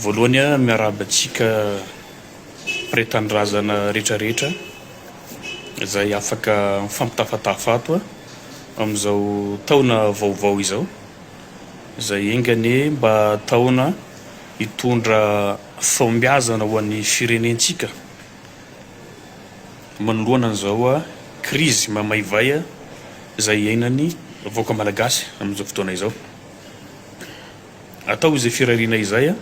Voalohany aho miarahaba antsika Mpre Tanindrazana rehetra rehetra izay afaka mifampitafatafa ato amin'izao taona vaovao izao izay enga anie mba taona hitondra fahombiazana ho an'ny firenentsika manoloana an'izao krizy mamaivay izay iainan'ny vahoaka Malagasy amin'izao fotoana izao. Atao izay firariana izay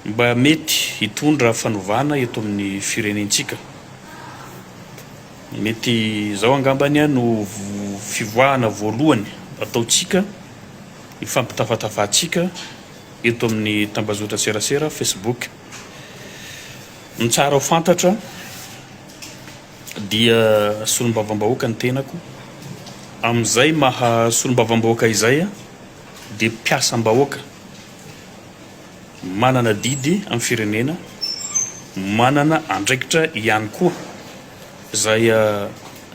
mba mety hitondra fanovana eto amin'ny firenentsika. Mety izao angambany no fivoahana voalohany ataontsika, ny fampitafatafantsika eto amin'ny tambazotran-tserasera Facebook. Ny tsara ho fantatra. dia solombavambahoaka ny tenako, amin'izay maha solombavambahoaka izay aho dia mpiasam-bahoaka manana adidy amin'ny firenena, manana andraikitra ihany koa izay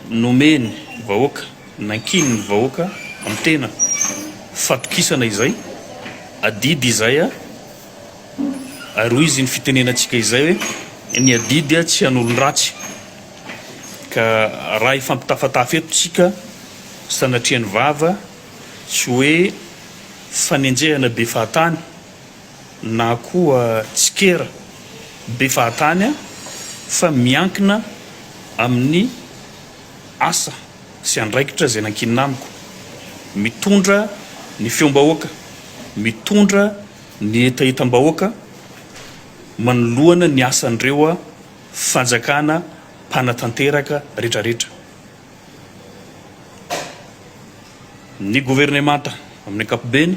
nomen'ny vahoaka, nankinin'ny vahoaka amin'ny tena, fatokisana izay, adidy izay aho. Ary hoy izy, Ny fitenenantsika izay hoe, Ny adidy tsy hanolo-dratsy. Ka raha hifampitafatafy eto tsika sanatria ny vava, tsy hoe fanenjehana be fahatany na koa tsikera be fahatany an, fa miankina amin'ny asa sy andraikitra izay nankinina amiko. Mitondra ny feom-bahoaka, mitondra Ny hetahetam-bahoaka manoloana ny asan'ireo fanjakana mpanatanteraka retraretra. Ny governemanta amin'ny ankapobeny,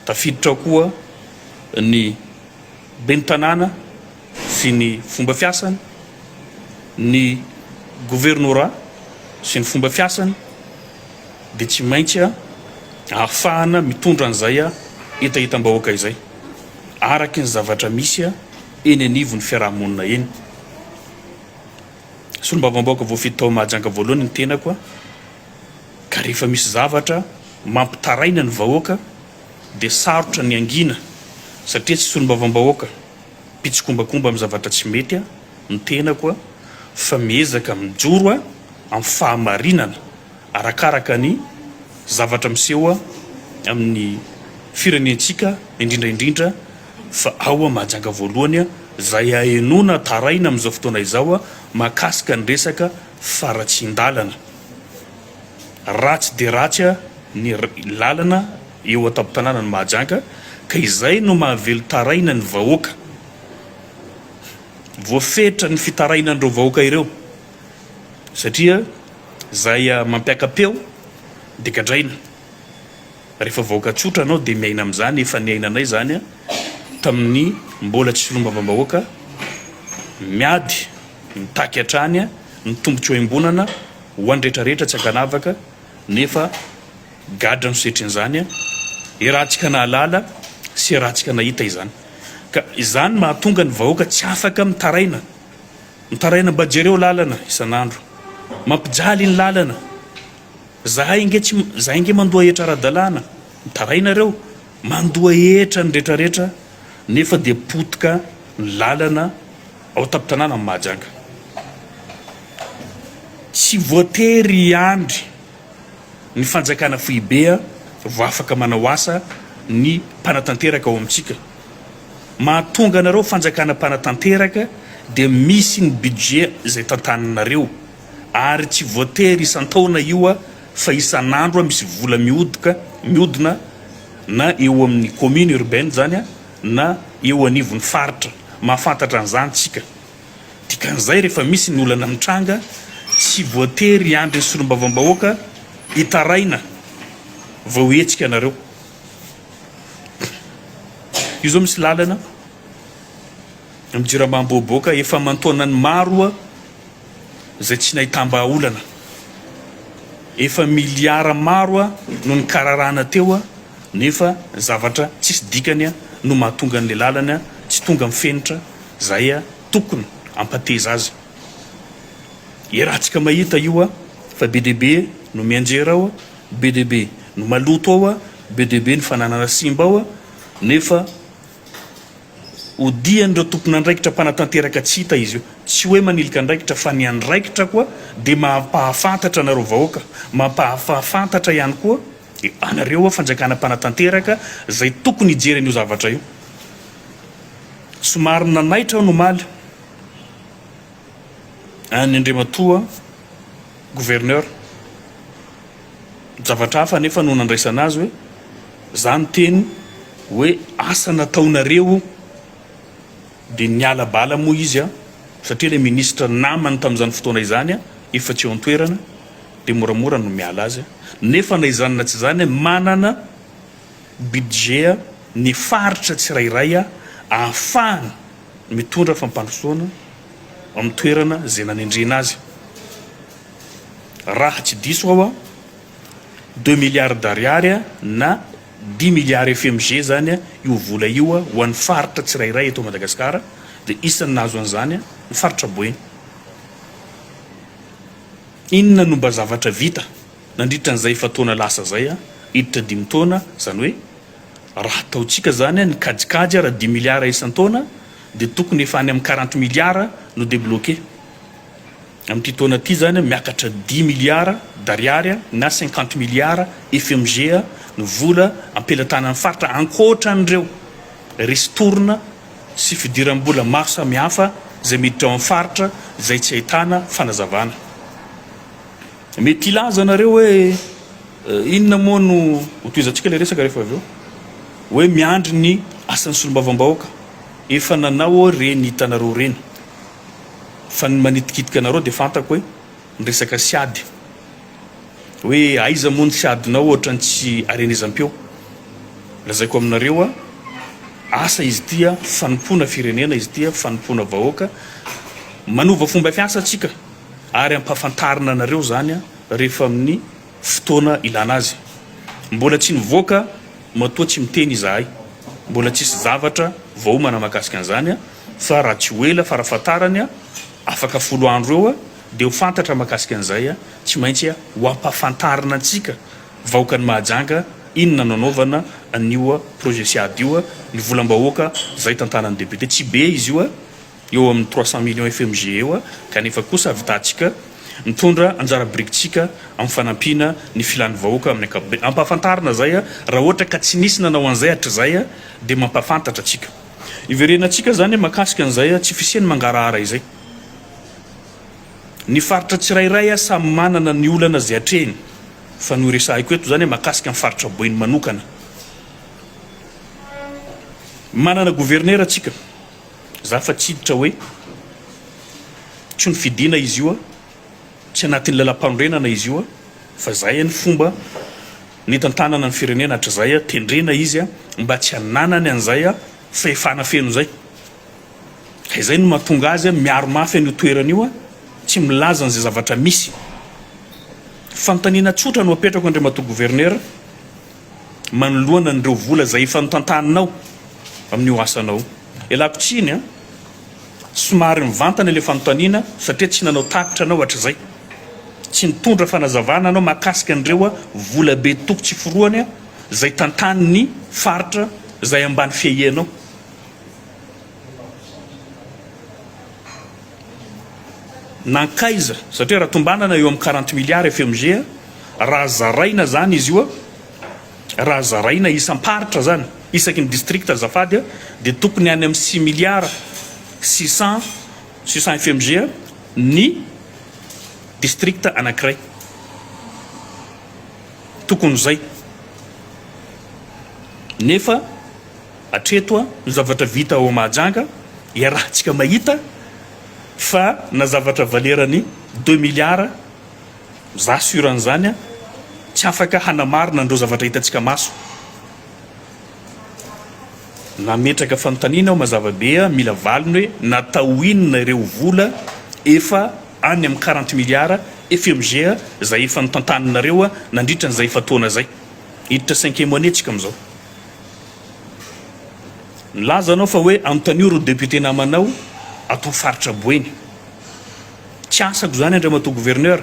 tafiditra ao koa ny ben'ny tanàna, sy ny fomba fiasany, ny governorat sy ny fomba fiasany dia tsy maintsy ahafahana mitondra an'izay hetahetam-bahoaka izay araky ny zavatra misy eny anivon'ny fiaraha-monina eny. Solombavambahoaka voafidy tao Mahajanga voalohany ny tenako ka rehefa misy zavatra mampitaraina ny vahoaka dia sarotra ny hangina satria tsy solombavambahoaka mpitsikombakomba amin'ny zavatra tsy mety aho, ny tenako aho, fa miezaka mijoro aho amin'ny fahamarinana arakaraka ny zavatra miseho aho amin'ny firenentsika indrindra indrindra fa ao aho Mahajanga voalohany aho, izay ahenoana taraina amin'izao fotoana izao aho mahakasika ny resaka faratsian-dalana. Ratsy dia ratsy aho ny lalana. Eo an-tampon-tanànan'i Mahajanga ka izay no mahavelon-taraina ny vahoaka. Voafetra ny fitarainan'ireo vahoaka ireo satria izay mampiaka-peo dia gadraina. Rehefa vahoaka tsotra anao dia miaina amin'izany, efa niainanay izany tamin'ny mbola tsy solombavambahoaka, miady mitaky hatrany ny tombotsoam-bonana ho an'ny rehetrarehetra tsy ankanavaka nefa Gadra no setrin'izany an! Iarahantsika nahalala sy iarahantsika nahita izany. Ka izany mahatonga ny vahoaka tsy afaka mitaraina. Mitaraina mba jereo lalana isan'andro. Mampijaly ny lalana. Zahay ange tsy, zahay ange mandoa hetra ara-dalàna. Mitaraina reo. Mandoa hetra ny retraretra nefa dia potika ny lalana ao an-tampon-tanàna ny Mahajanga. Tsy voatery hiandry Ny Fanjakana Foibe vao afaka manao asa ny mpanatanteraka ao amintsika. Mahatonga anareo Fanjakana mpanatanteraka dia misy ny budget izay tantaninareo ary tsy voatery isan-taona io fa isan'andro misy vola mihodoka, mihodina na eo amin'ny commune urbaine izany na eo anivon'ny faritra. Mahafantatra an'izany tsika. Dikan'izay, rehefa misy ny olana mitranga, tsy voatery hiandry ny solombavambahoaka hitaraina vao hihetsika ianareo. Io izao misy lalana amin'ny jirama Ambohiboka efa aman-taonany maro izay tsy nahitam-bahaolana. Efa miliara maro no nikararana teo nefa zavatra tsisy dikany no mahatonga an'ilay lalana tsy tonga amin'ny fenitra Zay a tokony ampateza azy e ratsika mahita io a fa be dia be no mianjera ao a be dia be no maloto ao a be dia be ny fananana simba ao a nefa odian'ireo tompon'andraikitra mpanatanteraka tsy hita izy io tsy hoe manilika andraikitra fa ny andraikitra koa dia mampahafantatra anareo vahoaka mampahafafantatra ihany koa anareo a fanjakana mpanatanteraka zay tokony hijery an'io zavatra io. Somary nanaitra aho ny omaly an'i Andriamatoa Gouverneur. Zavatra hafa anefa no nandraisana azy hoe za niteny hoe asa nataonareo dia niala bala moa izy an, satria ilay ministra namany tamin'izany fotoana izany an efa tsy eo an-toerana dia moramora no miala azy an. Nefa na izany na tsy izany an manana budget ny faritra tsirairay ahafahany mitondra fampandrosoana amin'ny toerana izay nanendrena azy. Raha tsy diso aho, deux milliards d'ariary na dix milliards FMG izany io vola io ho an'ny faritra tsirairay eto Madagasikara dia isan'ny nahazo an'izany ny faritra Boeny. Inona no mba zavatra vita? Nandritra an'izay efa-taona lasa izay, hiditra dimy taona, izany hoe raha ataontsika izany ny kajikajy ary dimy miliara isan-taona dia tokony efa any amin'ny quarante miliara no debloqué. Amin'ity taona ity izany miakatra dimy miliara d'ariary na cinquante miliara FMG ny vola am-pelatanan'ny faritra ankoatra an'ireo ristourne sy fidiram-bola maro samihafa izay miditra ao amin'ny faritra izay tsy ahitana fanazavana. Mety hilaza nareo hoe inona moa no ho tohizantsika ilay resaka rehefa avy eo? Hoe miandry ny asan'ny solombavambahoaka. Efa nanao aho ireny hitanareo ireny. Fa ny manitikitika anareo dia fantako hoe ny resaka siady. Hoe aiza moa ny siadinao ohatran'ny tsy arenezam-peo. Lazaiko aminareo a, asa izy ity a, fanompoana firenena izy ity a, fanompoana vahoaka. Manova fomba fiasa tsika. ary ampahafantarina anareo izany rehefa amin'ny fotoana ilana azy. Mbola tsy nivoaka matoa tsy miteny izahay. Mbola tsisy zavatra vaomana mahakasika an'izany fa raha tsy ho ela farafahatarany afaka folo andro eo dia ho fantatra mahakasika an'izay. Tsy maintsy ho ampahafantarina antsika vahoakan'i Mahajanga inona no anaovana an'io projet Siad io. Ny volam-bahoaka izay tantanan'ny député tsy be izy io eo amin'ny trois cent millions FMG eo kanefa kosa avitantsika mitondra anjara birikintsika amin'ny fanampiana ny filan'ny vahoaka amin'ny ankapobeny. Ampahafantarina izay raha ohatra ka tsy nisy nanao an'izay hatrizay dia mampahafantatra antsika. Hiverenantsika izany mahakasika an'izay tsy fisian'ny mangarahara izay. Ny faritra tsirairay samy manana ny olana izay atrehiny fa ny horesahiko eto izany mahakasika ny faritra Boeny manokana. Manana governera tsika. Za fa tsy hiditra hoe tsy nofidina izy io a, tsy anatin'ny lalam-panorenana izy io a, fa zay any fomba nitantanana ny firenena hatrizay a, tendrena izy a, mba tsy hananany an'izay a fahefana feno zay. Ka izay no mahatonga azy a miaro mafy an'io toerana io a, tsy milaza an'izay zavatra misy. Fanontaniana tsotra no apetrako Andriamatoa Gouverneur, manoloana an'ireo vola izay efa notantaninao amin'io asanao io. Ialako tsiny an! Somary mivantana ilay fanontaniana satria tsy nanao tatitra anao hatrizay. Tsy nitondra fanazavana anao mahakasika an'ireo vola be toko tsy forohany izay tantanin'ny faritra izay ambany fiahianao. Nankaiza? Satria raha tombanana eo amin'ny quarante milliards FMG raha zaraina zany izy io, raha zaraina isam-paritra zany, isaky ny district azafady, dia tokony any amin'ny six milliards six cent, six cent FMG ny district anankiray. Tokony izay. Nefa. Hatreto ny zavatra vita ao Mahajanga, iarahantsika mahita fa na zavatra valerany deux milliards, za sur an'izany, tsy afaka hanamarina an'ireo zavatra hitantsika maso. Nametraka fanontaniana aho mazava be mila valiny hoe natao inona ireo vola efa any amin'ny quarante milliards FMG izay efa notantaninareo nandritra an'izay efa-taona izay. Hiditra cinquième année tsika amin'izao. Milaza anao fa hoe anontanio ry député namanao ato faritra Boeny. Tsy asako izany Andriamatoa Gouverneur.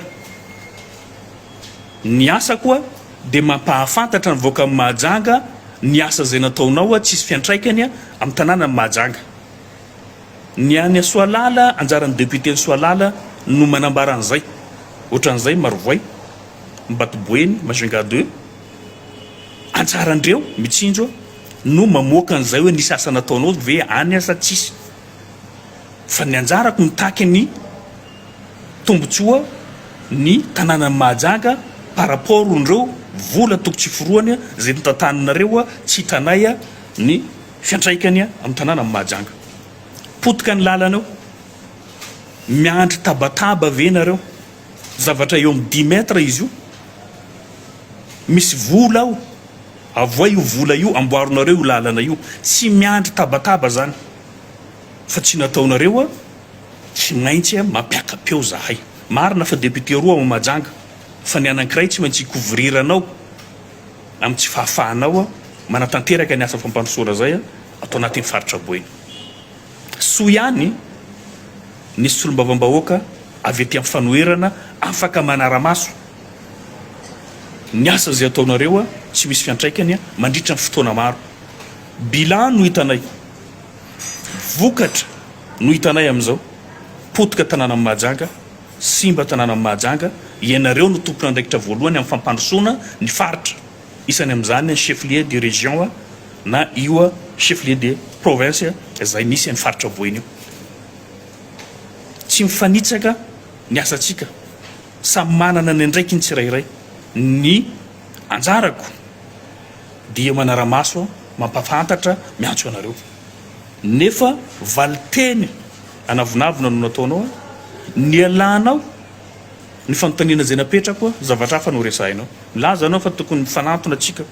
Ny asako dia mampahafantatra ny vahoakan'i Mahajanga ny asa izay nataonao tsisy fiantraikany amin'ny tanànan'i Mahajanga. Ny any Ansoalala, anjaran'ny député Ansoalala no manambara an'izay. Ohatran'izay Marovoay, Mbatoboeny, Majunga deux. Anjaran-dreo mitsinjo no mamoaka an'izay hoe nisy asa nataonao ve any asa tsisy. Fa ny anjarako mitaky ny tombotsoa ny tananan'i Mahajanga par rapport on'reo vola toko tsy forohany izay notantaninareo tsy hitanay ny fiantraikany amin'ny tananan'i Mahajanga. Potika ny lalana eo. Miandry tabataba ve nareo. Zavatra eo amin'ny dix mètres izy io, misy vola ao, avohay io vola io, amboarinareo io lalana io, tsy miandry tabataba zany fa tsy nataonareo a, tsy maintsy a mampiaka-peo zahay, marina fa député roa ao Mahajanga fa ny anankiray tsy maintsy hi-couvrir-nao amin'ny tsy fahafahanao manatanteraka ny asa fampandrosoana zay ato anatin'ny faritra Boeny. Soa ihany ny solombavambahoaka avy aty amin'ny fanoherana afaka manara-maso ny asa izay ataonareo a! tsy misy fiantraikany a! mandritra ny fotoana maro. Bilan no hitanay, vokatra no hitanay amin'izao, potika tanànan'i Mahajanga, simba tanànan'i Mahajanga, ianareo no tompon'andraikitra voalohany amin'ny fampandrosoana ny faritra. Isany amin'izany ny chef-lieu de région na io chef-lieu de province izay misy iny faritra voina io. Tsy mifanitsaka ny asantsika, samy manana ny andraikiny tsirairay. Ny anjarako dia manara-maso, mampafantatra, miantso anareo. Nefa valin-teny anavonavona no nataonao, nialanao ny fanontaniana izay napetrako, zavatra hafa no resahinao. Milaza ianao fa tokony mifanantona tsika.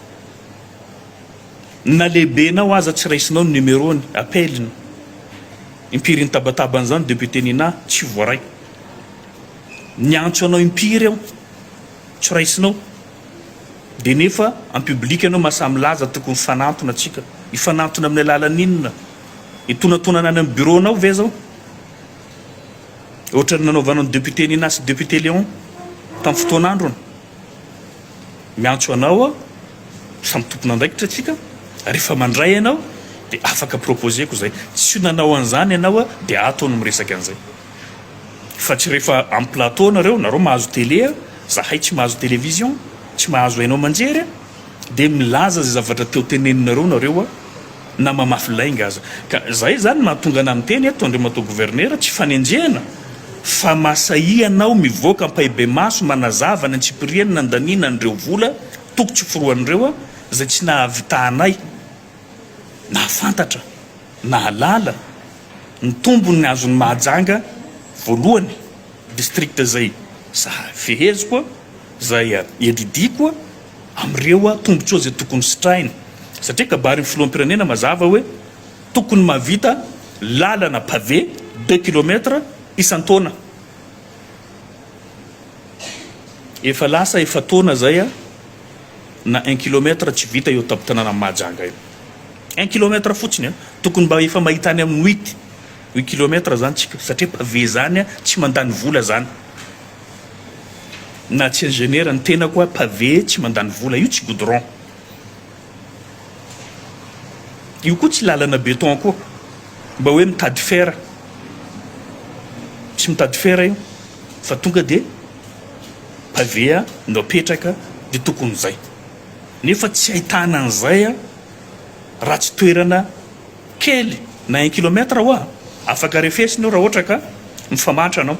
Na lehibenao aza tsy raisinao ny numerony, appel-ny. Impiry nitabataba an'izany Député Nina, tsy voaray. Niantso anao impiry aho, tsy raisinao. Dia nefa en public ianao mahasahy milaza tokony mifanantona tsika. Hifanantona amin'ny alalan'inona? Hitonatonana any amin'ny bureau-nao ve izao? Ohatran'ny nanaovanao ny député Nina sy député Léon tamin'ny fotoan'androny. Miantso anao aho, samy tompon'andraikitra tsika, rehefa mandray ianao dia afaka proposer-ko izay. Tsy nanao an'izany ianao aho dia ato aho no miresaka an'izay. Fa tsy rehefa amin'ny plateau nareo, nareo mahazo télé, zahay tsy mahazo télévision, tsy mahazo haino aman-jery. dia milaza izay zavatra teo teneninareo nareo a, na mamafy lainga aza. Ka zay izany no mahatonga anah miteny eto, Andriamatoa Governera, tsy fanenjehana fa masahia anao mivoaka ampahibemaso manazava ny antsipiriany nandaniana an'ireo vola toko tsy forohan'ireo a, izay tsy nahavitahanay nahafantatra, nahalala, ny tombony azon'i Mahajanga voalohany, district izay sahy feheziko a, Zay a! Iadidiako a! Amireo a! Tombotsoa zay tokony sitrahina satria kabarin'ny filoham-pirenena mazava hoe tokony mahavita lalana pavé deux kilomètre isan-taona. Efa lasa efa-taona zay a! Na un kilomètre tsy vita eo an-tampon-tanànan'i Mahajanga io. Un kilomètre fotsiny a! Tokony mba efa mahita any amin'ny huit, huit kilomètre zany tsika satria pavé zany a! Tsy mandany vola zany. Na tsy ingénieur ny tenako hoa pavé tsy mandany vola io tsy goudron io koa tsy lalana béton koa mba hoe mitady fer tsy mitady fer io fa tonga dia pavé a no apetraka dia tokony zay nefa tsy ahitana an'izay a ratsy toerana Kely na un kilomètre hoa afaka refesina io raha ohatra ka mifamantra anao.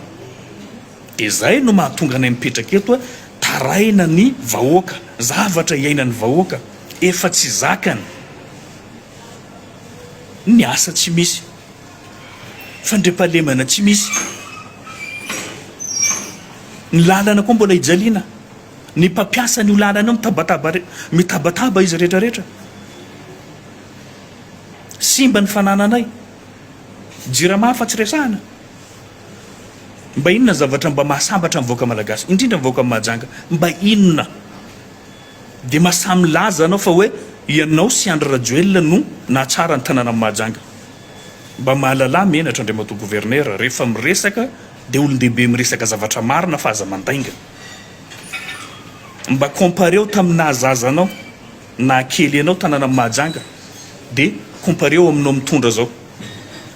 Dia izay no mahatonga anay mipetraka eto hoe tarahina ny vahoaka, zavatra iainan'ny vahoaka, efa tsy zakany ny asa tsy misy, fandriampahalemana tsy misy, ny lalana koa mbola hijaliana, ny mpampiasa an'io lalana io mitabataba, mitabataba izy rehetra rehetra. Simba ny fanananay. Jirama afa tsy resahana. Mba inona ny zavatra mba mahasambatra ny vahoaka malagasy, indrindra ny vahoaka Mahajanga? Mba inona? Dia mahasahy milaza anao fa hoe ianao sy Andry Rajoelina no nahatsara ny tanànan'i Mahajanga. Mba mahalalà menatra Andriamatoa Gouverneur, rehefa miresaka dia olon-dehibe miresaka zavatra marina fa aza mandainga. Mba compareo tamin'ny naha zaza anao. Na kely ianao tanàna Mahajanga de compareo aminao mitondra zao.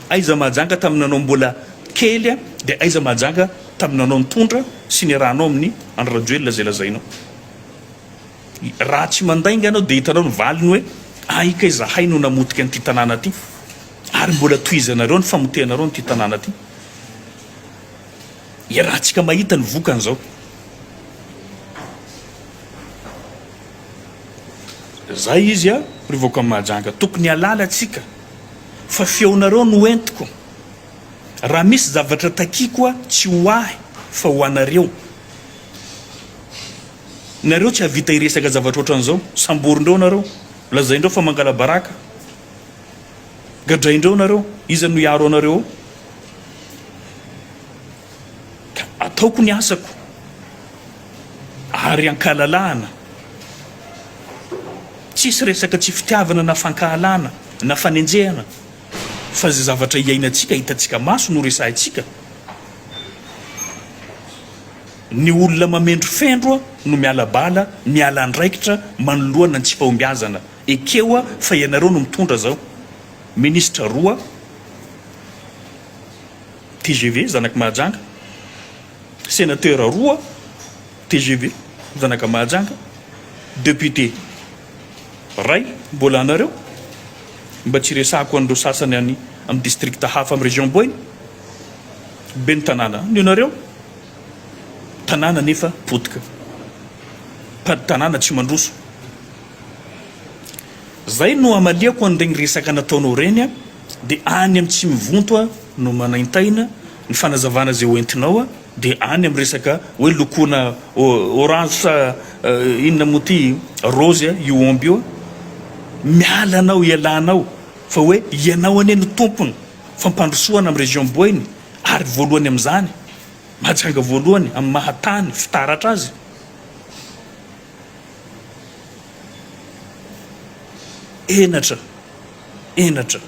Aiza Mahajanga tamin'ny nanao mbola kely de aiza Mahajanga tamin'ny nanao nitondra sy niarahanao amin'ny Andry Rajoelina zay lazainao. Raha tsy mandainga anao de hitanao ny valiny hoe ay kay zahay no namotika an'ity tanàna ty ary mbola tohizanareo ny famotehanareo an'ity tanàna ty. Iarahantsika mahita ny vokany zao. Zay izy a ry vahoakan'i Mahajanga tokony halala tsika fa feonareo no entiko raha misy zavatra takiako a tsy ho ahy fa ho anareo nareo tsy havita hiresaka zavatra otran'zao samborindreo nareo lazaindreo fa mangalabaraka gadraindreo nareo iza no hiaro anareo Ataoko ny asako ary ankalalahana. Tsisy resaka tsy fitiavana na fankahalana na fanenjehana fa zay zavatra iainantsika hitantsika maso no resahintsika. Ny olona mamendro fendro no miala bala, miala andraikitra manoloana ny tsy fahombiazana. Ekeo fa ianareo no mitondra zao. Ministra roa. Tgv, zanak'i Mahajanga, Sénateur roa tgv, zanaka Mahajanga, Député ray mbola anareo, mba tsy resahako an'ireo sasany any amin'ny district hafa amin'ny région Boina, Ben'ny tanàna any ianareo, tanàna anefa potika, mpady tanàna tsy mandroso. Zay no amaliako an'iregny resaka nataonao regny a, de any amin'ny tsy mivonto a no manaintaina ny fanazavana zay hoentinao a, de any amin'ny resaka hoe lokona orange sa inona moa ty rose a io omby io a, miala anao ialanao fa hoe ianao anie no tompony fampandrosoana amin'ny région boeny ary voalohany amin'izany Mahajanga voalohany amin'ny maha tany fitaratra azy. Henatra, henatra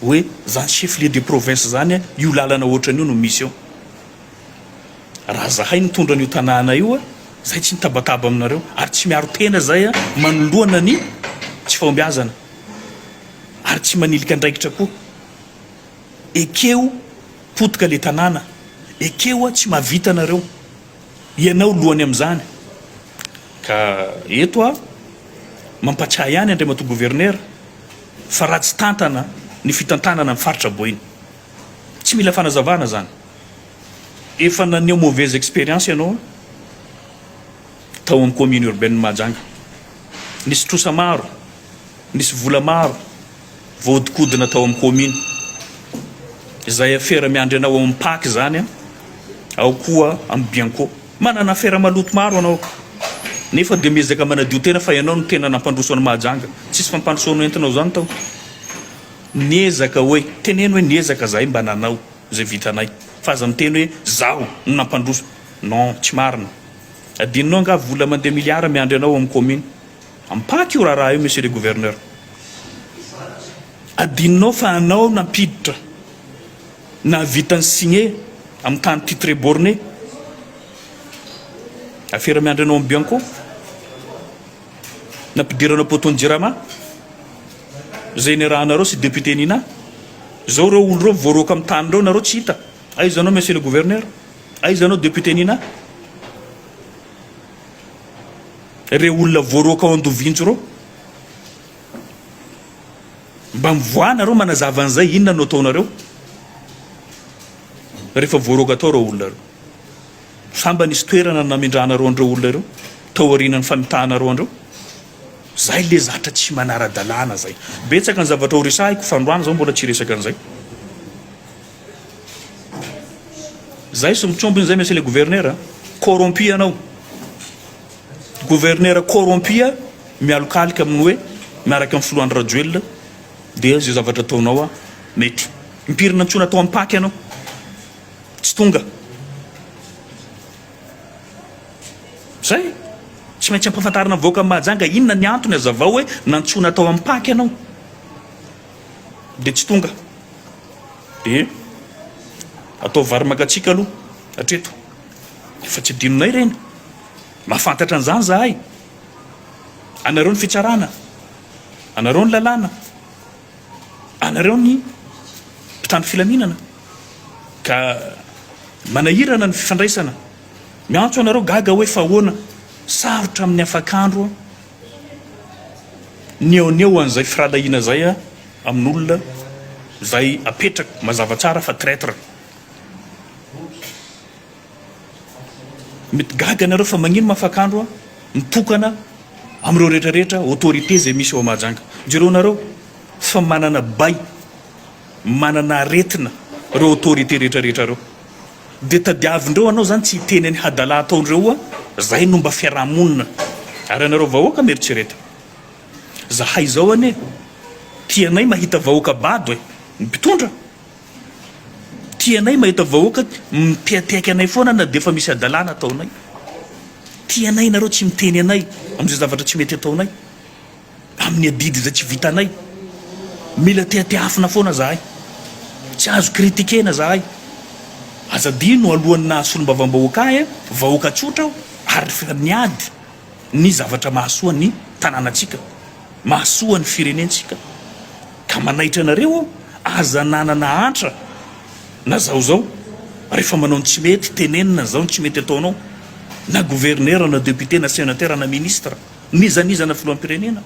hoe zany chef lieu de province zany a, io lalana ohatrany io no misy eo. Raha zahay nitondra an'io tanàna io a, zay tsy mitabataba aminareo ary tsy miaro tena zay a, manoloana ny tsy fahombiazana ary tsy manilika andraikitra koa. Ekeo potika le tanàna, ekeo a tsy mahavita nareo. Ianao lohany amin'izany. Ka eto aho mampatsiahy ihany Andriamatoa Governera fa ratsy tantana ny fitantanana ny faritra Boina. Tsy mila fanazavana izany. Efa naneho mauvaise expérience ianao tao amin'ny Commune Urbaine-n'i Mahajanga. Nisy trosa maro, nisy vola maro. Voahodinkodina tao amin'ny kaomina. Izay afera miandry anao ao amin'ny pac izany an, ao koa amin'ny bianco. Manana afera maloto maro anao nefa dia miezaka manadio tena fa ianao no tena nampandroso an'i Mahajanga. Tsisy fampandrosoana entinao izany tao. Niezaka hoe, teneno hoe niezaka izahay mba nanao izay vitanay fa aza miteny hoe izaho no nampandroso. Non, tsy marina. Adinonao angaha vola mandeha milliards miandry anao ao amin'ny kaomina. Ampaky io raharaha io Monsieur le Gouverneur. Adinonao fa anao nampiditra nahavita ny signe amin'ny tany titre borne. Afera miandry anao amin'ny Bianco. Nampidiranao poteau-n'ny Jirama. Izay niarahanareo sy député Nina. Izao ireo olo ireo voaroaka amin'ny tany ireo nareo tsy hita. Aiza anao Monsieur le Gouverneur? Aiza anao député Nina? reo olona voaroaka ao Andovinjo reo? Mba mivoaha nareo manazava an'izay, inona no ataonareo rehefa voaroaka tao reo olona reo? Sa mba nisy toerana namindranareo an'ireo olona ireo tao aorianan'ny famitahanareo an'ireo? Zay le zatra tsy manara-dalàna zay. Betsaka ny zavatra ho resahiko fa androany zao mbola tsy hiresaka an'izay. Zay sy mitrompony zay monsieur le gouverneur a! Corrompu ianao! Gouverneur corrompu mialokaloka amin'ny hoe miaraka amin'ny filoha Andry Rajoelina dia zay zavatra ataonao a! Mety mipirina antsoina atao ampaky ianao! Tsy tonga! Zay! Tsy maintsy ampafantarina vahoaka mahajanga inona ny antony azavao hoe nantsoina atao ampaky ianao! dia tsy tonga dia atao vary mangatsiaka aloha hatreto efa tsy adinonay ireny mahafantatra an'izany zahay anareo ny fitsarana anareo ny lalàna anareo ny mpitandro filaminana ka manahirana ny fifandraisana miantso anareo gaga hoe fahoana sarotra amin'ny afakandro Ny eo an'eo an'izay firahalahiana izay amin'olona izay apetrako, mazava tsara fa traitre. Mety gaga ianareo fa magnino Mafakandro mitokana amin'ireo rehetra rehetra autorité izay misy ao Mahajanga. Jereo nareo fa manana bay, manana aretina ireo autorité rehetra rehetra ireo. Dia tadiavindreo anao zany tsy hiteny any hadala ataondreo oa zay no mba fiarahamonina ary anareo vahoaka mieritrereto zahay zao anie tianay mahita vahoaka bado e ny mpitondra tianay mahita vahoaka miteateaka anay foana na dia efa misy hadalana ataonay tianay nareo tsy miteny anay amizay zavatra tsy mety ataonay amin'ny adidy izay tsy vitanay. Mila tehateafina foana zahay. Tsy azo critikena zahay. Aza adino alohan'ny naha solombavambahoaka ahy an, vahoaka tsotra aho ary fa niady ny zavatra mahasoa ny tanànantsika, mahasoa ny firenentsika. Ka manaitra anareo aho, aza nanana antra na zao zao rehefa manao ny tsy mety, tenenina zao ny tsy mety ataonao na gouverneur na député na sénateur na ministre. Nizanizana filohampirenena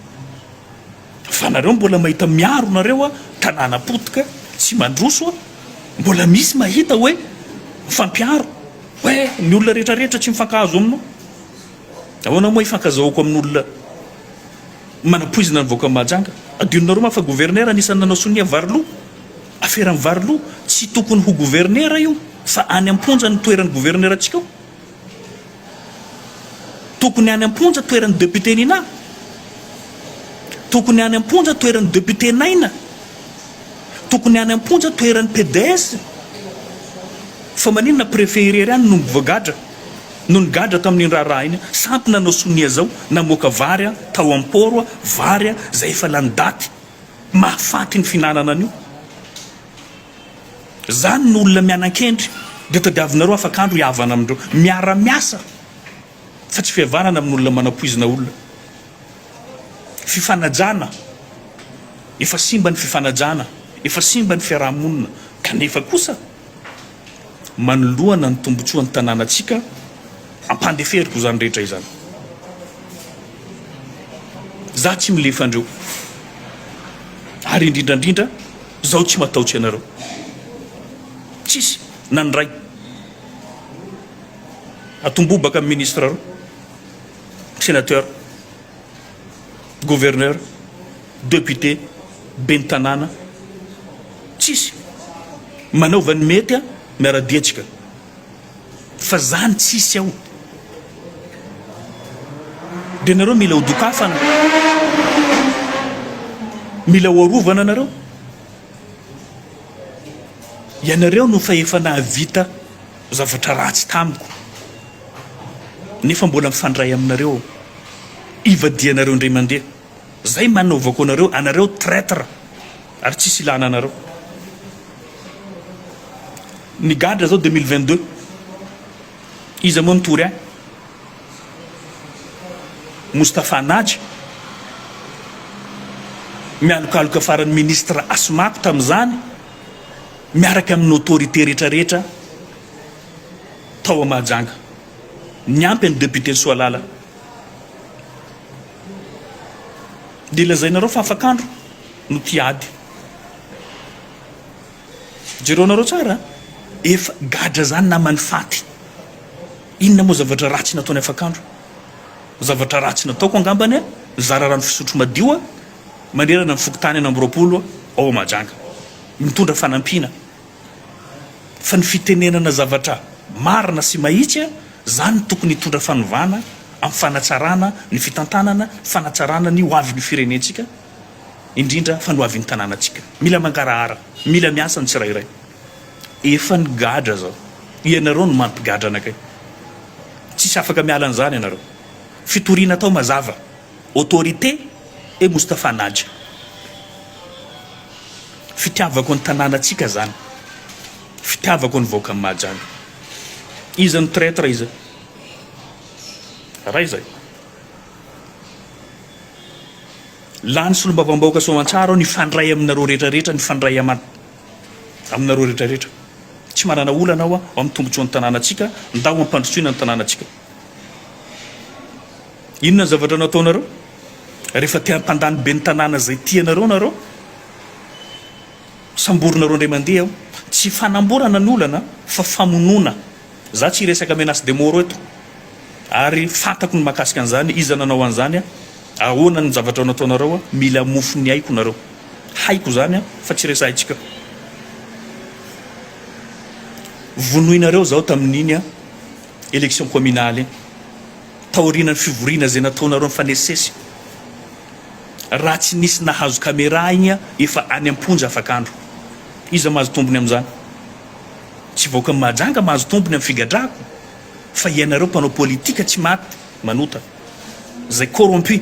fa nareo mbola mahita miaro nareo a tanàna potika tsy mandroso a mbola misy mahita hoe mifampiaro hoe ny olona rehetra rehetra tsy mifankahazo aminao ahoana moa ifankazahoako amin'olona manapoizina ny vahoaka mahajanga adinonareo ma fa gouverneur anisan'ny nanao sonia variloha afera ny variloha tsy tokony ho gouverneur io fa any am-ponja ny toeran'ny gouverneur antsika ao Tokony any amponja toeran'ny député Nina Tokony any amponja toeran'ny député Naina Tokony any amponja toeran'ny PDS Fa maninona préfet irery ihany no mivoagadra no nigadra tamin'iny raharaha iny sampy nanao sonia zao namoaka vary a tao am port a vary a zay efa lany daty mahafaty ny fihinanana an'io Izany no olona mianankendry, dia tadiavinareo afak'andro hihavana amin'ireo miara-miasa fa tsy fihavanana amin'olona manapoizina olona. Fifanajana, efa simba ny fifanajana, efa simba ny fiaraha-monina, kanefa kosa manoloana ny tombontsoan'ny tanànantsika, Ampandeferiko izany rehetra izany. Izaho tsy milefa andreo. Ary indrindra indrindra, izaho tsy matahotra ianareo. Tsisy na ny ray. Atombobaka amin'ny ministra reo, sénateur, gouverneur, député, ben'ny tanàna. Tsisy. Manaova ny mety a, miara-dia antsika. Fa zany tsisy ao de nareo mila ho dokafana mila ho arovana nareo ianareo no fa efa nahavita zavatra ratsy tamiko nefa mbola mifandray aminareo ivadianareo ndray mandeha Zay manaovako anareo, anareo traitre ary tsisy ilana anareo. Ny gadra zao deux mille vingt deux iza moa nitory ahy? Moustapha Naja mialokaloka farany ministre Asmako tamizany miaraka aminy autorité rehetra rehetra tao a Mahajanga. Niampy an'i député Soalala. Dia lazainareo fa afak'andro no tia ady. Jereo anareo tsara a! Efa gadra zany naman'i Faty. Inona moa zavatra ratsy nataony afak'andro? Zavatra ratsy nataoko angambany a! Nizara rano fisotro madio a! Manerana ny fokontany enina amby roapolo ao Mahajanga. Mitondra fanampiana. fa ny fitenenana zavatra marina sy mahitsy zany no tokony hitondra fanovana am fanatsarana ny fitantanana, fanatsarana ny ho avin ny firenentsika indrindra fa ny ho avin ny tananatsika. Mila mangarahara, mila miasa ny tsirairay. Efa nigadra zao. Ianareo no mampigadra anakay. Tsisy afaka miala an'izany ianareo. Fitoriana atao mazava. Autorité et Moustapha Naja. Fitiavako ny tananatsika zany. Fitiavako ny vahoakan'i Mahajanga. Iza no traitre iza? Raiza e. Lany solombavambahoaka soamantsara aho nifandray aminareo rehetra rehetra nifandray aman aminareo rehetra rehetra. Tsy manana olana aho a amin'ny tombotsoan'ny tananatsika ndao ampandrosoina ny tananatsika. Inona ny zavatra nataonareo? Rehefa te hampandany ben'ny tanàna izay tianareo nareo, samborinareo indray mandeha aho. Tsy fanamborana ny olana fa famonoana. Za tsy hiresaka menace de mort eto ary fantako ny mahakasika an'izany, iza nanao an'izany, ahoana ny zavatra nataonareo, mila mofo ny aiko nareo. Haiko izany fa tsy resahintsika. Vonoinareo zaho tamin'iny. Élection communale taorianan'ny fivoriana izay nataonareo nifanesisesy. Raha tsy nisy nahazo camera igny efa any am-ponja afak'andro. Iza mahazo tombony amin'izany? Tsy vahoakan'i Mahajanga mahazo tombony amin'ny figadrahako fa ianareo mpanao politika tsy maty manota. Izay corrompu.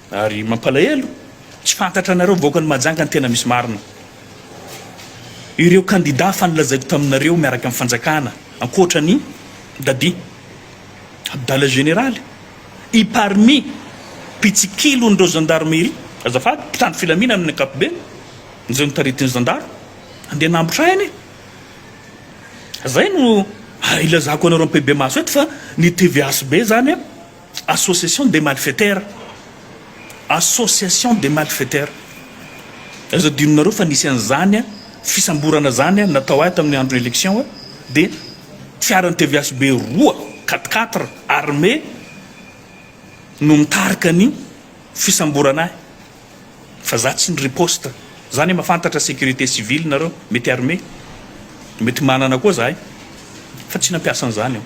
Ary mampalahelo, tsy fantatra anareo vahoakan'i Mahajanga ny tena misy marina. Ireo kandida fa nolazaiko taminareo miaraka amin'ny fanjakana ankoatra an'i Dadi, Abdallah Général, i Parmi, mpitsikilon'ireo Gendarmerie, azafady, mpitandro filaminana amin'ny ankapobeny, izay notaritin'ny zandaro, andeha hanambotra aina e! Izay no ilazako anareo am-pehibemaso eto fa ny tvhb izany Association des malfaiteurs, association des malfaiteurs. Aza adinonareo fa nisy an'izany fisamborana zany natao ahy tamin'ny andro election dia fiaran'ny tvhb roa quatre quatre armé no nitarika ny fisamborana ahy fa za tsy niriposte. Za ne mafantatra sécurité civile nareo mety armé mety manana koa zahay fa tsy nampiasa an'izany aho.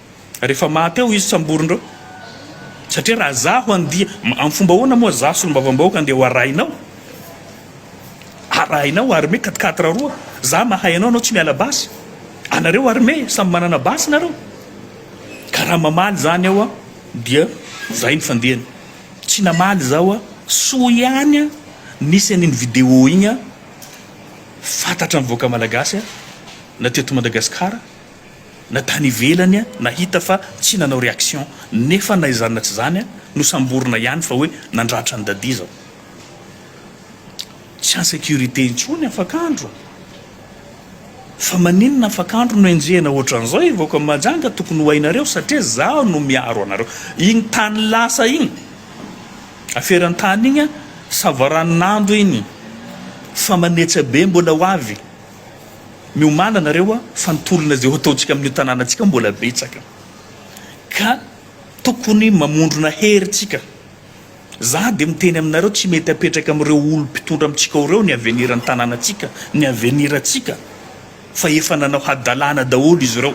rehefa maty ao izy samborinreo satria raha zaho andia am fomba ahoana moa za solombavambahoaka andeha ho arahinao arahinao armée quatre quatre roa za mahay anao anao tsy miala basy anareo armée samy manana basy nareo ka raha mamaly zany aho a dia zay ny fandehany tsy namaly zaho a soa ihany a nisy an'iny vidéo igny a fantatra ny vahoaka malagasy a na teto madagasikara na tany ivelany a nahita fa tsy nanao reaction nefa na izany na tsy izany a nosamborina ihany fa hoe nandratra an'i Dadia izao tsy en sécurité intsony afak'andro a! Fa maninona afak'andro no enjehina ohatran'izao e vahoaka Mahajanga tokony ho hainareo satria zaho no miaro anareo iny tany lasa iny aferan-tany iny a savaranonando iny fa manetsa be mbola ho avy Miomàna nareo a, fa ny tolona izay hotaontsika amin'io tanànantsika io mbola betsaka, ka tokony mamondrona hery tsika. Za dia miteny aminareo tsy mety apetraka amin'ireo olom mpitondra amintsika ao ireo ny aveniran'ny tanànantsika, ny avenirantsika, fa efa nanao hadalàna daholo izy ireo,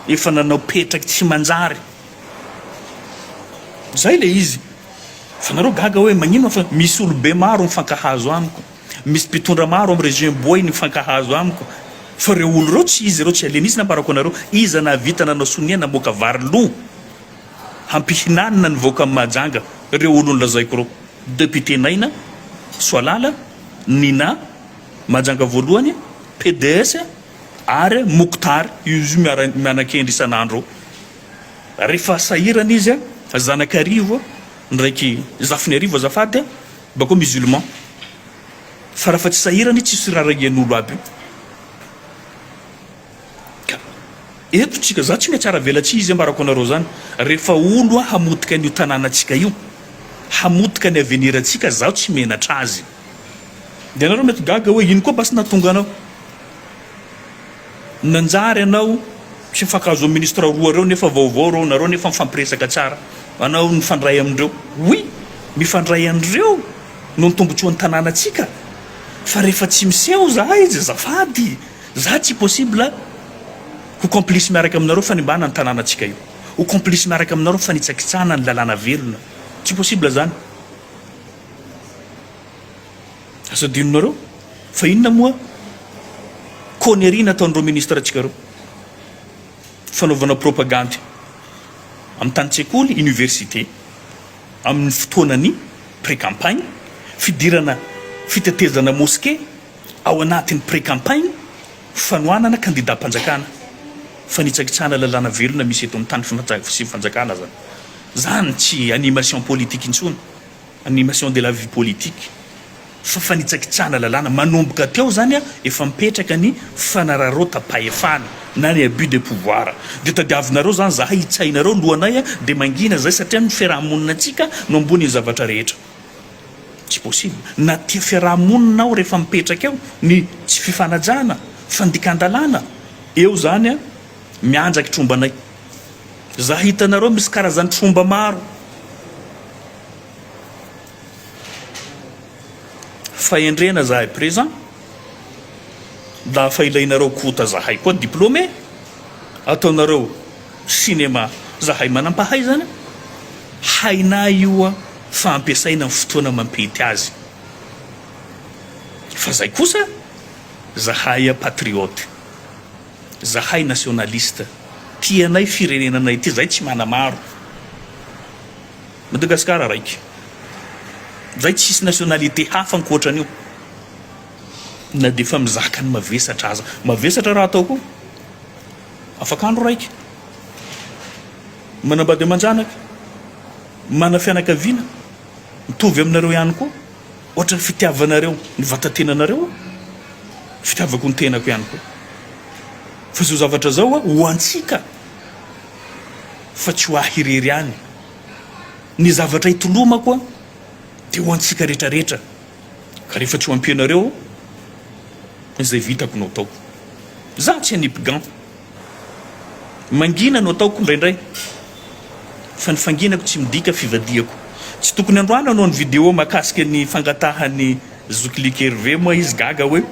efa nanao petraky tsy manjary. Zay le izy. Fa nareo gaga hoe magnino fa misy olobe maro mifankahazo amiko. Misy mpitondra maro am région boay ny mifankahazo amiko fa reo olo reo tsy izy reo tsy alien izy nambarako anareo iza nahavita nanao sonia namoaka vary lo hampihinanina ny vahoaka am Mahajanga reo olo nolazaiko reo depute naina soalala nina Mahajanga voalohany PDS ary Mouktar io izy io mianakendry isanandro eo refa sahirana izy a zanakarivo ndraiky zafiniarivo azafady a Bako musulman. Fa rafa tsy sahirana io tsisy raha regen'olo aby io. Ka eto tsika za tsy mihatsara avela tsy izy ambarako anareo zany. Refa olo a hamotika an'io tanàna tsika io, hamotika ny avenir tsika zaho tsy menatra azy. De anareo mety gaga oe ino koa basy nahatonga anao. Nanjary anao tsy mifankahazo ministre roa reo nefa vaovao reo nareo nefa mifampiresaka tsara anao nifandray amindreo oui mifandray anreo no ny tombotsoany tanàna tsika fa refa tsy miseho zah izy azafady zah tsy possible ho complice miaraka aminareo fanimbana ny tanàna tsika io ho complice miaraka aminareo fanitsakitsahana ny lalàna velona tsy possible zany Aza adinonareo fa inona moa connerie nataon'ireo ministre antsika ireo. Fanaovana propagandy amin'ny tany tsekoly, université, amin'ny fotoanan'ny pré-campagne, fidirana fitetezana mosquée ao anatin'ny pré-campagne, fanohanana kandidam-panjakana, fanitsakitsahana lalàna velona misy eto amin'ny tany sy fanjakana zany. Zany tsy animation politique intsony. Animation de la vie politique, fa fanitsakitsahana lalàna. Manomboka teo izany efa mipetraka ny fanararaotam-pahefana na ny abus de pouvoir. Dia tadiavinareo izany izahay hitsahinareo lohanay dia mangina izay satria ny fiaraha-moninantsika no ambonin'ny zavatra rehetra. Tsy possible. Na tia fiaraha-monina aho rehefa mipetraka eo ny tsy fifanajana, fandikan-dalàna, eo izany mianjaky trombanay. Izahay hitanareo misy karazan'ny tromba maro. Fahendrena zahay présent dafa ilainareo kota zahay koa diplômé ataonareo cinéma zahay manampahaizana hainay io a fa ampiasaina ny fotoana mampety azy fa zay kosa zahay a patriote zahay nationaliste tianay firenenanay ty zay tsy manamaro Madagascar raiky zay tsisy nationalité hafa ankoatran'io na de efa mizaka ny mavesatra aza mavesatra raha atao koa afak'andro raiky manambady aman-janaka mana fianakaviana mitovy aminareo ihany koa ohatran'ny fitiavanareo ny vatantenanareo fitiavako ny tenako ihany koa fa zao zavatra zao a ho antsika fa tsy ho ahy irery ihany. Ny zavatra itolomako dia ho antsika rehetrarehetra, ka rehefa tsy ho ampianareo izay vitako no ataoko. Izaho tsy hanipgan. Mangina no ataoko indraindray, fa ny fanginako tsy midika fivadihako. Tsy tokony androana anao ny video mahakasika ny fangatahan'ny zokilikely ve moa izy? Gaga hoe.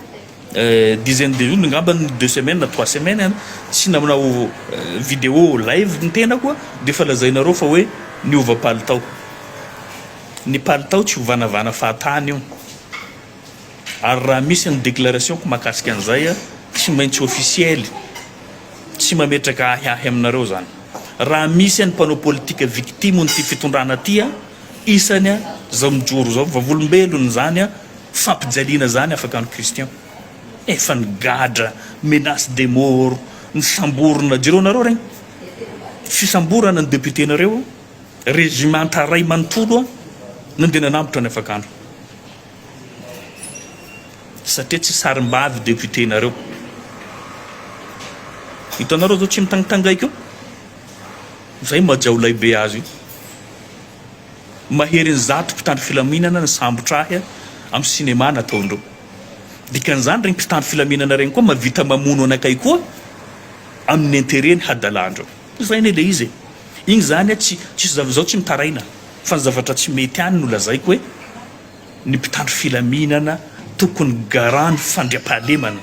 Dizaine de jours ngamba ny deux semaines na trois semaines an, tsy nanao vidéo live ny tenako an, dia efa lazainareo fa hoe niova palitao. Ny palitao tsy hovanavana fahatany io. Ary raha misy ny déclaration-ko mahakasika an'izay an, tsy maintsy officiel. Tsy mametraka ahiahy aminareo izany. Raha misy ny mpanao politika victime-n'ity fitondrana ity an, Isany zao mijoro zao vavolombelon izany fampijaliana izany afaka any Christian efa nigadra menace de mort nisamborina jereo nareo regny fisamborana ny député nareo régimenta ray manontolo a nandeha nanambotra ny afakandro satria tsy sarimbavy député nareo hitanareo zao tsy mitangitangaiko Izay mba jiaolay be azy io. Maherin'ny zato mpitandro filaminana nisambotra ahy amin'ny cinéma nataondreo. Dikan'izany ireny mpitandro filaminana ireny koa mahavita mamono anakay koa amin'ny interet-ny hadalandreo. Izay anie ilay izy e. Iny izany tsy tsy zav izaho tsy mitaraina fa ny zavatra tsy mety any no lazaiko hoe ny mpitandro filaminana tokony garant ny fandriampahalemana.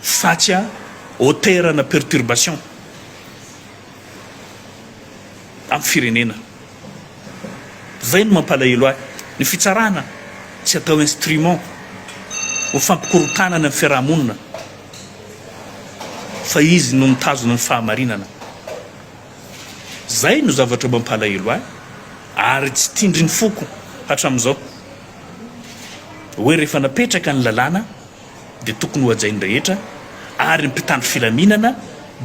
Fatsy a hauteurana perturbation am firenena. Zay no mampalahelo ahy. Ny fitsarana tsy atao instrument ho fampikorontanana ny fiarahamonina fa izy no mitazona ny fahamarinana. Zay no zavatra mampalahelo ahy ary tsy tindrin'ny foko hatramizao. hoe rehefa napetraka ny lalàna dia tokony hohajain'ny rehetra ary ny mpitandro filaminana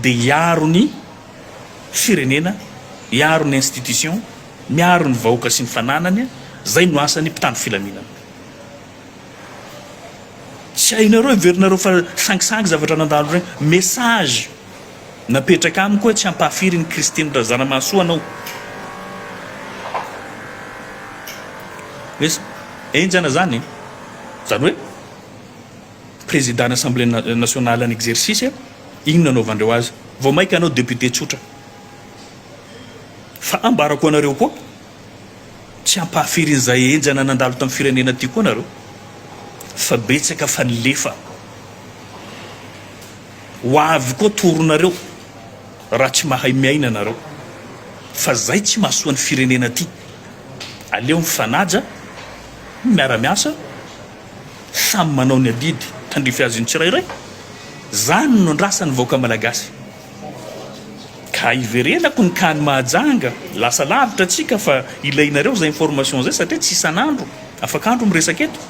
dia hiaro ny firenena, hiaro ny institutions, miaro ny vahoaka sy ny fananany, izay no asan'ny mpitandro filaminana. Tsy hainareo, heverinareo fa sangisangy zavatra nandalo ireny. Message. Napetraka amiko hoe tsy hampahafiry ny Kristy ny Razanamahasoa anao. Hoe henjana izany e! Izany hoe Président ny Assemblée Nationale en exercice, inona anaovandreo azy? Vao maika anao député tsotra. Fa ambarako anareo koa, tsy hampahafiry an'izay henjana nandalo tamin'ny firenena ity koa nareo. Fa betsaka fa nilefa. Ho avy koa toronareo raha tsy mahay miaina nareo fa zay tsy mahasoa ny firenena ty. Aleo mifanaja, miara miasa, samy manao ny adidy tandrify azy ny tsirairay, zany no andrasan'ny vahoaka malagasy. Ka hiverenako ny kany mahajanga, lasa lavitra atsika fa ilainareo zay information zay satria tsy isan'andro, afak'andro miresaka eto.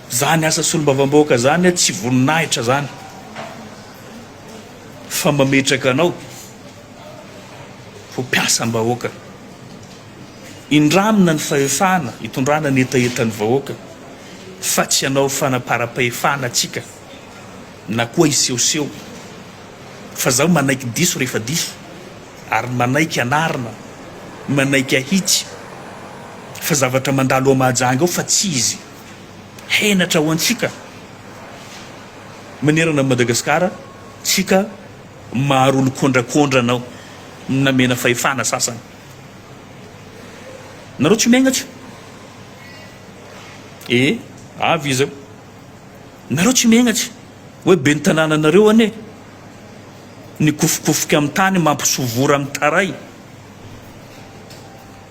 Zany asa solombavambahoaka zany a tsy voninahitra zany fa mametraka anao ho mpiasam bahoaka indramina ny fahefana itondrana ny hetahetan'ny vahoaka fa tsy anao fanaparam-pahefana tsika na koa isehoseho fa zaho manaiky diso rehefa diso ary manaiky anarina manaiky ahitsy fa zavatra mandalo ao mahajanga ao fa tsy izy henatra ho antsika manerana an'i Madagasikara tsika maharolo kondrakondra anao namena fahefana sasany nareo tsy miaigna tsy e avy izy eo nareo tsy miaigna tsy hoe ben'ny tanàna anareo anie ny kofokofika amin'ny tany mampisovora amin'ny taray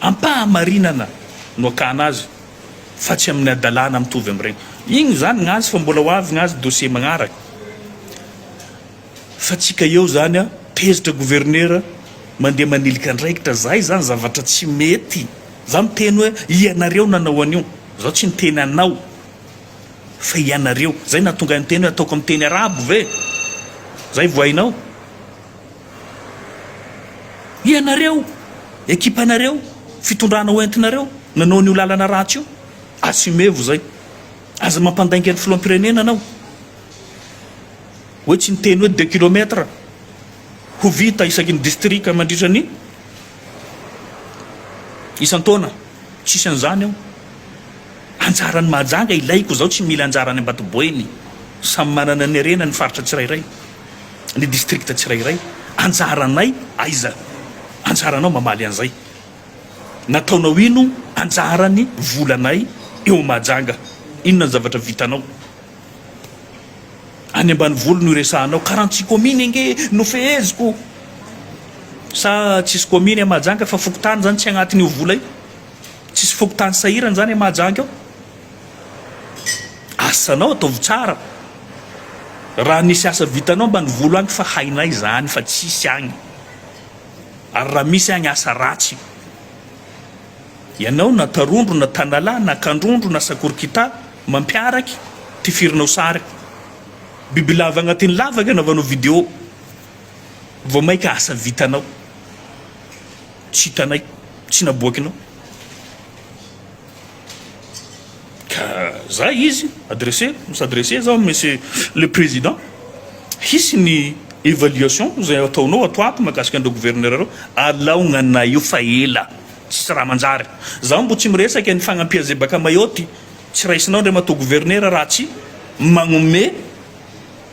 Am-pahamarinana no akana azy fa tsy amin'ny hadalana mitovy amin'ireny. Iny izany ny azy fa mbola ho avy ny azy dossier magnaraka. Fa tsy ka eo izany an, tezitra governera mandeha manilika andraikitra. Zay izany zavatra tsy mety. Za miteny hoe ianareo nanao an'io. Zaho tsy niteny anao fa ianareo. Zay nahatonga ahy niteny hoe ataoko amin'ny teny arabo ve? Zay vao hainao? Ianareo, ekipanareo, fitondrana ho entinareo nanao an'io lalana ratsy io, assumez-vous izay. Aza mampandainga ny filoham-pirenena anao hoe tsy niteny hoe deux kilomètres ho vita isaky ny distrika mandritra ny isan-taona. Tsisy an'izany ao. Anjaran'ny Mahajanga ilaiko izao, tsy mila anjara any Ambatoboeny. Samy manana ny harena ny faritra tsirairay. ny distrikta tsirairay, anjaranay aiza? anjaranao mamaly an'izay, nataonao ino anjaran'ny volanay eo Mahajanga? inona ny zavatra vitanao? any ambanivolo no iresahanao, karantsy kominy ange no feheziko, sa tsisy kominy any Mahajanga fa fokontany zany tsy agnatin'io vola io? tsisy fokontany sahirana zany any Mahajanga ao? Asanao ataovy tsara raha misy asa vitanao ambanivolo any fa hainay izany fa tsisy agny ary raha misy agny asa ratsy ianao na tarondro na tanalahy na kandrondro na sakorikita mampiaraky tifirinao sary bibilava agnatin'ny lavaka anaovanao vidéo vao maika asa vitanao tsy hitanay tsy naboakinao ka za izy adresse misadresse za monsieur le président hisy ny évaluation zay ataonao ato ato mahakasika an'ireo gouverneur ireo alaognanay eo fa ela tsisy raha manjary za mbo tsy miresaka ny fagnampiazebaka mayotte tsy raisinao andriamatoa gouverneur raha tsy magnomey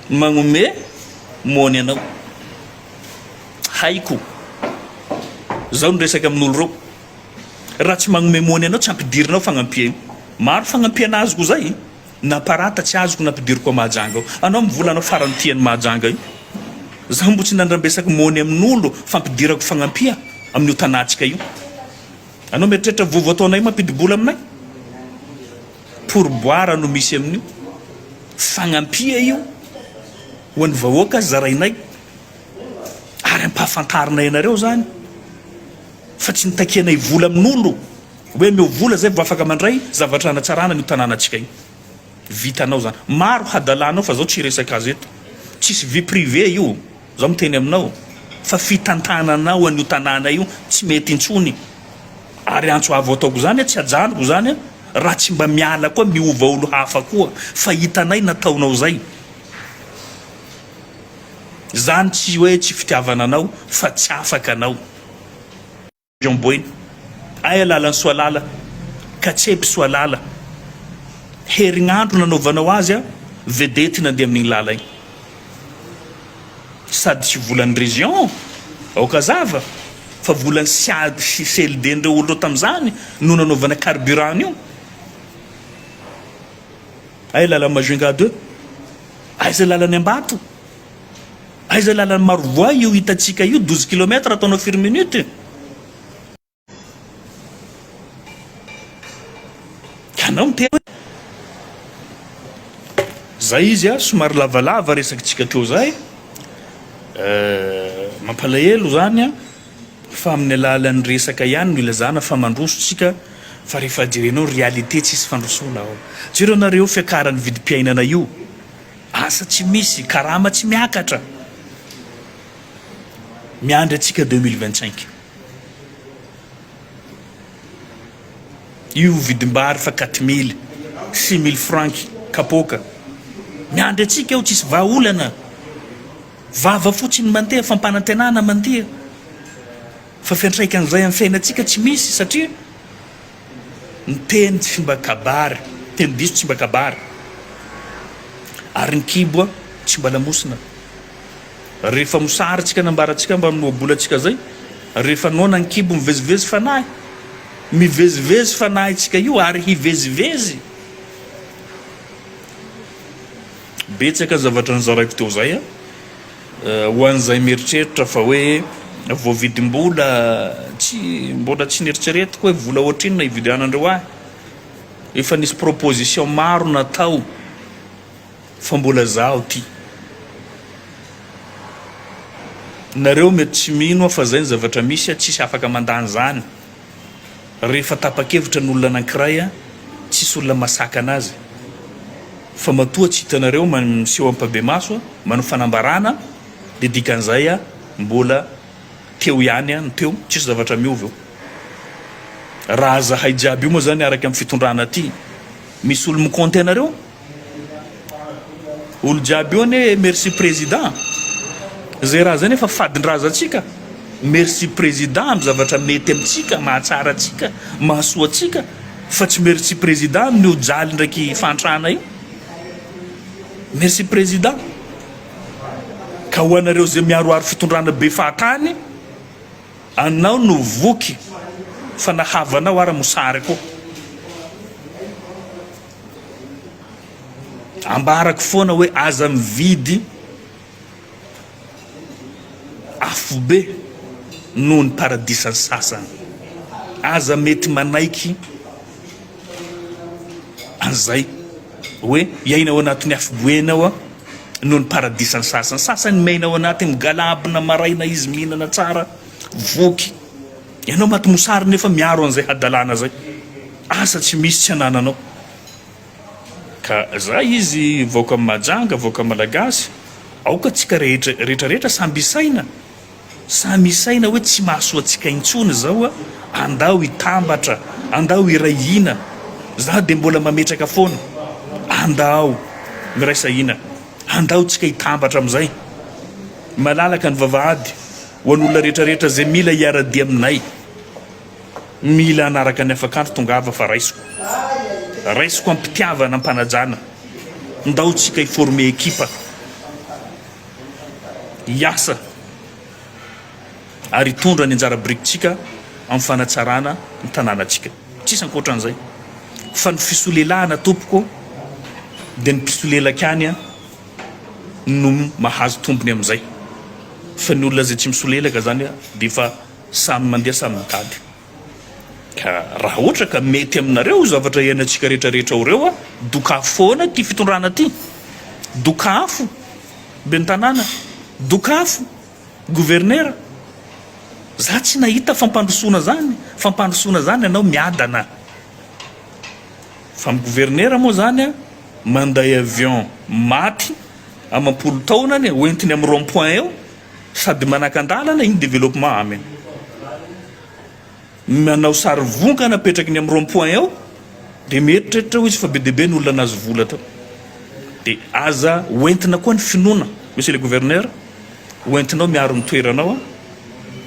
magnomey mony anao haiko zao ny resaka amin'olo reo Raha tsy magnome mony anao tsy ampidirinao fagnampiany. Maro fagnampiana azoko zay na parata tsy azoko na ampidiriko à Mahajanga ao. Anao mivola anao farany tia an'i Mahajanga io. Zaho mbo tsy nandrambesaky mony amin'olo fampidirako fagnampia amin'io tanantsika io. Anao mieritreritra vovo ataonay mampidibola aminay? Pourboire no misy amin'io. Fagnampia io ho an'ny vahoaka zarainay ary ampahafantarinay anareo zany. Fa tsy nitakianay vola amin'olo hoe ameo vola zay vao afaka mandray zavatra hanatsarana an'io tanànantsika io. Vitanao zany. Maro hadalanao fa zao tsy hiresaka azy eto. Tsisy vie privée io. Zao miteny aminao. Fa fitantananao an'io tanàna io tsy mety intsony. Ary antso avo ataoko zany tsy ajanoko zany raha tsy mba miala koa miova olo hafa koa. Fa hitanay nataonao zay. Zany tsy hoe tsy fitiavana anao fa tsy afaka anao. Jean Boina, Ay Alalansoalala, Katsebisoalala, herignandro nanaovanao azy a vedety nandeha amin'igny lala igny. Sady volan'ny region, aoka azava, fa volan'ny CIAD sy CLD ndreo olo reo tamzany no nanaovana carburant an'io. Ay Lala Majunga deux, aiza lalan'i Ambato? Aiza lalan'i Marovoay io hitantsika io douze kilomètre ataonao firy minute? Ianao miteny hoe zay izy a, somary lavalava resakitsika hatreo zay, mampalahelo zany a, fa amin'ny alalan'ny resaka ihany no ilazana fa mandroso tsika fa rehefa jerenao ny réalité tsisy fandrosoana ao. Jereo nareo fiakaran'ny vidim-piainana io. Asa tsy misy, karama tsy miakatra. Miandry antsika deux mille vingt cinq. Io vidim-bary fa quatre mille, six mille franc kapoaka. Miandry antsika ao tsisy vahaolana. Vava fotsiny mandeha, fampanantenana mandeha. Fa fiantraikan'izay amin'ny fiainantsika tsy misy satria. ny teny tsy mba kabary, teny diso tsy mba kabary, ary ny kibo tsy mba lamosina. Rehefa mosary tsika na ambara tsika mba minoa-bola tsika zay, rehefa noana ny kibo mivezivezy fanahy, mivezivezy fanahy tsika io ary hivezivezy. Betsaka ny zavatra nozaraiko teo zay a. Ho an'izay mieritreritra fa hoe voavidim-bola, tsy, mbola tsy neritreretiko hoe vola ohatrinona ividianandreo ahy. Efa nisy proposition maro natao fa mbola zaho ty. Nareo mety tsy mino aho fa zay ny zavatra misy, tsisy afaka mandany zany. Rehefa tapa-kevitra ny olona anankiray an, tsisy olona masakana azy fa matoa tsy hitanareo miseho ampabemaso an, manao fanambarana dia dikan'izay an mbola teo ihany an ny teo, tsisy zavatra miova eo. Raha zahay jiaby io moa zany araka ny fitondrana aty, misy olo-mi-compte anareo? Olo jiaby eo anie merci président zay raha zay nefa fadin-drazantsika merci président amin'ny zavatra mety amintsika mahatsara antsika mahasoa antsika fa tsy merci président amin'io jaly ndraiky fantrana io merci président ka ho anareo zay miaroaro fitondrana be fahatany anao no voky fa nahavanao ara mosary koa Ambarako foana hoe aza mividy afobe noho ny paradisan'ny sasany. Aza mety manaiky an'izay hoe hiaina ao anatin'ny afoboena ao noho ny paradisan'ny sasany. Sasany miaina ao anatin'ny galabona maraina izy mihinana tsara voky. Ianao maty mosary nefa miaro an'izay hadalana zay. Asa tsy misy tsy anananao. Ka zay izy vahoaka majanga vahoaka malagasy aoka tsika rehetra rehetra rehetra samby isaina samy isaina hoe tsy mahasoa tsika intsony zao a andao hitambatra andao hiray hina za de mbola mametraka foana andao miraisa hina andao tsika hitambatra amizay malalaka ny vavahady Ho an'olona rehetra rehetra izay mila hiara-dia aminay, mila hanaraka ny afakandro, tongava fa raisiko. Raisiko am-pitiavana, am-panajana. Ndao tsika hi-former ekipa, hiasa ary hitondra ny anjara birikitsika amin'ny fanatsarana ny tanànatsika. Tsisy ankoatran'izay. Fa ny fisolelahana tompoko dia ny mpisolelaka ihany an. no mahazo tombony amin'izay fa ny olona izay tsy misolelaka izany dia efa samy mandeha samy mitady ka raha ohatra ka mety aminareo io zavatra iainantsika rehetra rehetra ao ireo dokafo foana ity fitondrana ity dokafo ben'ny tanàna dokafo governera za tsy nahita fampandrosoana zany fampandrosoana zany ianao miadana fa amin'ny governera moa zany a Manday avion maty amam-polo taona anie hoentiny amin'ny rond point eo sady manakan-dalana iny développement amen manao sary vongana apetraky ny amin'ny rond point eo dia mieritreritra ho izy fa be dia be ny olona nahazo vola tao dia aza hoentina koa ny finoana monsieur le gouverneur hoentinao miaro ny toeranao a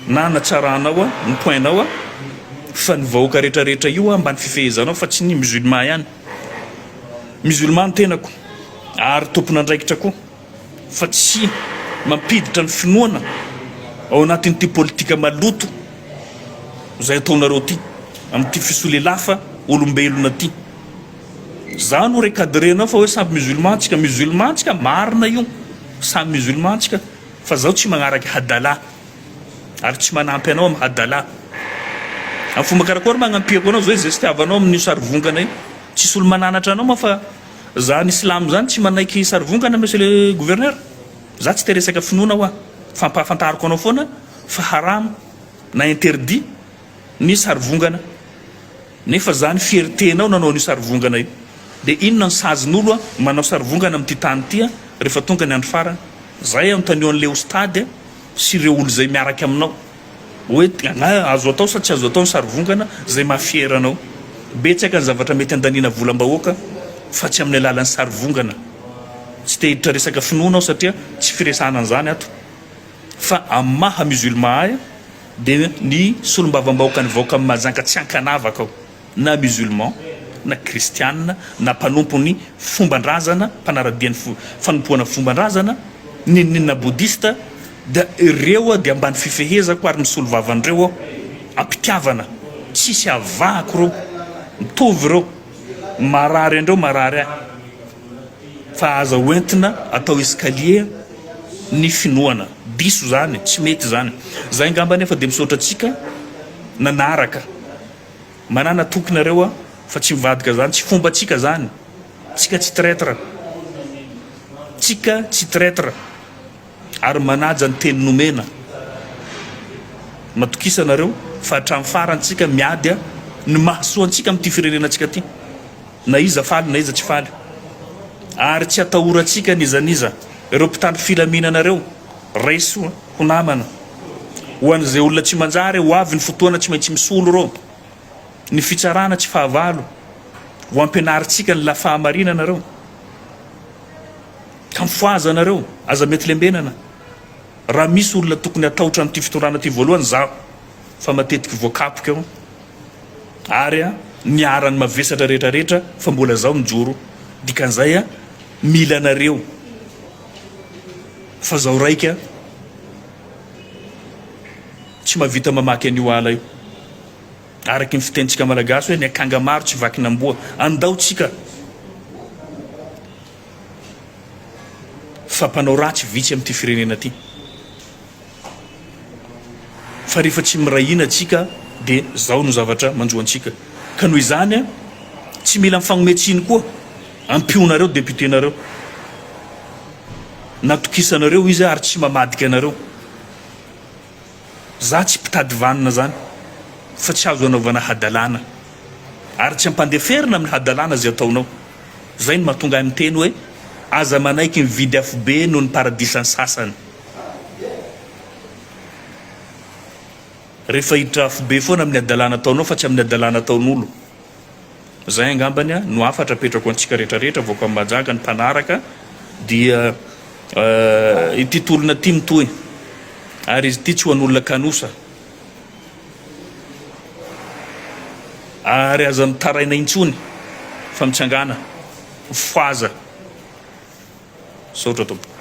na anatsaranao a ny point nao a fa ny vahoaka rehetra rehetra io a mba ny fifehezanao fa tsy ny musulman ihany Musulman ny tenako ary tompon'andraikitra koa fa tsy mampiditra ny finoana ao anatin'ity politika maloto izay ataonareo ity amin'ity fisolelafa olombelona ity. Za no recadrer anao fa hoe samy musulman tsika. Musulman tsika marina io, samy musulman tsika fa zaho tsy magnaraka hadala. Ary tsy manampy anao am hadala. Am fomba karakory ma agnampiako anao zao izay sitiavanao amin'io sary vongana io? Tsisy olo mananatra anao ma fa za ny silamo zany tsy manaiky sary vongana monsieur le gouverneur. Za tsy te resaka finoana hoa. Fampahafantariko anao foana fa haram na interdit ny sary vongana. Nefa za ny fierté nao nanao an'io sary vongana io. De inona ny sazin'olo manao sary vongana am ty tany ty refa tonga ny andro farany? Zay anontanio anle ostady a. sy ireo olon'izay miaraka aminao hoe na azo atao sa tsy azo atao ny sarivongana izay mahafiera anao. Betsaka ny zavatra mety handaniana volam-bahoaka fa tsy amin'ny alalan'ny sarivongana. Tsy te hiditra resaka finoana aho satria tsy firesahana an'izany ato fa amin'ny maha musulman ahy dia ny solombavambahoaka nivaoka amin'i Mahajanga tsy ankanavaka aho. na musulman, na kristiana, na mpanompon'ny fomban-drazana, mpanara-dia ny fanompoana fomban-drazana, n'inon'inona bodista, dia ireo dia ambany fifehezako ary misolo vava an'ireo aho, am-pitiavana, tsisy avahako ireo, mitovy ireo, marary an'ireo marary ahy, fa aza ho entina atao escalier ny finoana, diso izany, tsy mety izany. Izay angamba anefa dia misaotra antsika nanaraka. Manana toky nareo a fa tsy mivadika zany tsy fomba tsika zany tsika tsy traitre tsika tsy traitre ary manaja ny teny nomena matokisa nareo fa hatram farany tsika miady a ny mahasoa antsika amty firenena tsika ty na iza faly na iza tsy faly ary tsy atahoratsika nizaniza reo mpitandro filamina nareo Raiso ho namana, ho an'izay olona tsy manjary, ho avy ny fotoana tsy maintsy misolo rô, ny fitsarana tsy fahavalo, ho ampianarintsika ny la fahamarinana reo, ka mifohazana reo, aza mety lembenana, raha misy olona tokony hatahotra an'ity fitondrana ity voalohany zaho, fa matetiky voakapoka eo, ary a niharan'ny mavesatra rehetra rehetra, fa mbola zaho mijoro, dikan'izay a mila anareo. Fa zaho raika tsy mahavita mamaky an'io ala io. Araky ny fitenintsika malagasy hoe ny akanga maro tsy vakin'amboa. Andao tsika fa mpanao ratsy vitsy amin'ity firenena ity. Fa rehefa tsy miray hina tsika dia zao no zavatra manjo antsika. Ka noho izany a, tsy mila mifagnome tsiny koa. Ampionareo député nareo. Natokisanareo izy ary tsy mamadika anareo. Za tsy mpitady vanona zany fa tsy azo anaovana hadalana. Ary tsy ampandeferina amin'ny hadalana ze ataonao. Zay no mahatonga ahy miteny hoe aza manaiky mividy afobe noho ny paradisan'ny sasany. Rehefa hiditra afobe foana amin'ny hadalana ataonao fa tsy amin'ny hadalana ataon'olo. Zay angambany no hafatra apetrako ho antsika rehetra rehetra vahoaka an'i Mahajanga ny mpanaraka dia ity tolona ity mitohy ary izy ity tsy ho an'olona kanosa ary aza mitaraina intsony fa mitsangana foaza. Misaotra tompoko.